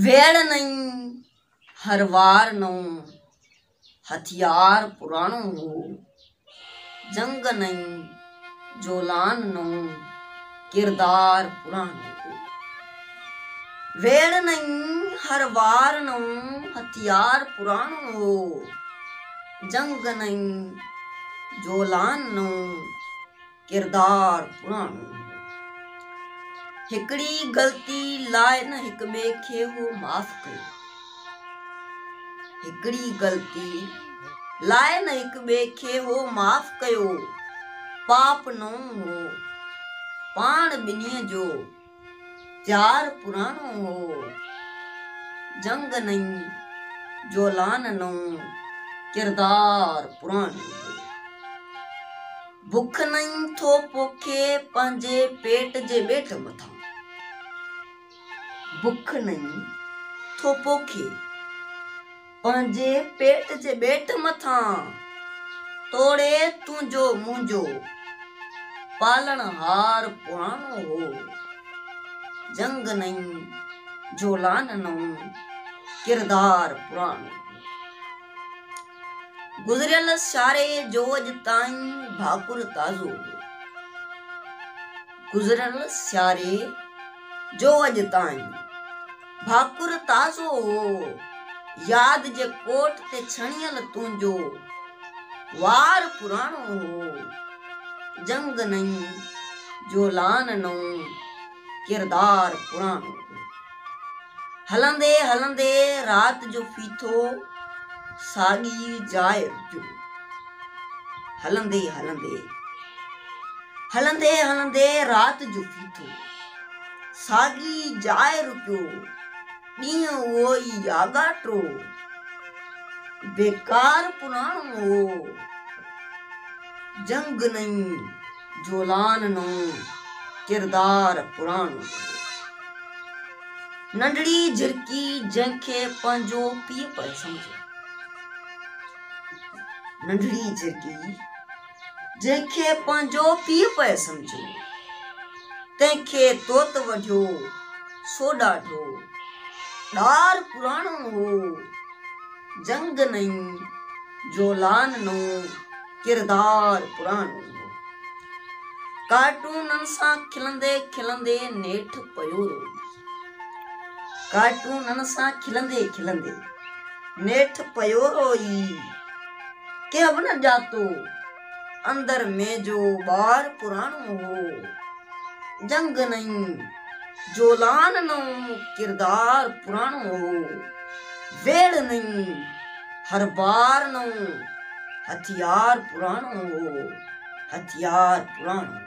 ويڙهه نئين هر وار نئون، هٿيار پراڻو هو. جنگ نئين، جولان نئون، ڪردار پراڻو هو. ويڙهه نئين هر وار نئون، هٿيار پراڻو هو. جنگ نئين، جولان نئون. ڪردار پراڻو هو. هڪڙي غلطي لاء نه هڪ ٻئي کي هو معاف ڪيو. هڪڙي غلطي لاء نه هڪ ٻئي کي هو معاف ڪيو. پاپ نئون هو، پاڻ ٻنهي جو. جار پراڻو هو، جنگ نئين، جولان نئون، ڪردار پراڻو هو. بک نئين ٿو پوکي پنهنجي پيٽ جي ٻيٽ مٿان. بک نئين ٿو پوکي. پنهنجي پيٽ جي ٻيٽ مٿان توڙي تنهنجو منهنجو پالڻهار پراڻو هو جنگ نئين جولان نئون ڪردار پراڻو هو گذريل ساري جوج تائين ڀاڪر تازو هو گذريل ساري جوج تائين ڀاڪر تازو هو ياد جي ڪوٽ تي ڇڻيل تنهنجو وار پراڻو هو جنگ نئين جولان نئون ڪردار پراڻو هو هلندي هلندي رات جو ڦيٿو ساڳي جاء جو هلندي هلندي هلندي هلندي رات جو ڦيٿو ساڳي جاء رڪيو، ڏينهن اهو ئي آڳاٽو، بيڪار پراڻو هو، جنگ نئين، جولان نئون، ڪردار پراڻو هو. ننڍڙي جهرڪي جنهن کي پنهنجو پيء پئي سمجهيو. ننڍڙي جهرڪي. جنهن کي پنهنجو پيء پئي سمجهيو، تنهن کي توت وڍيو، سو ڏاڍو ڏار پراڻو هو، جنگ نئين، جولان نئون، ڪردار پراڻو هو. ڪارٽونن سان کلندي کلندي نيٺ پيو روئي. ڪارٽونن سان کلندي کلندي نيٺ پيو روئي. ڪنهن به نه ڄاتو، اندر ۾ جو ٻار پراڻو هو. جنگ نئين، جولان نئون، ڪردار پراڻو هو. ويڙهه نئين، هر بار نئون، هٿيار پراڻو هو، هٿيار پراڻو هو.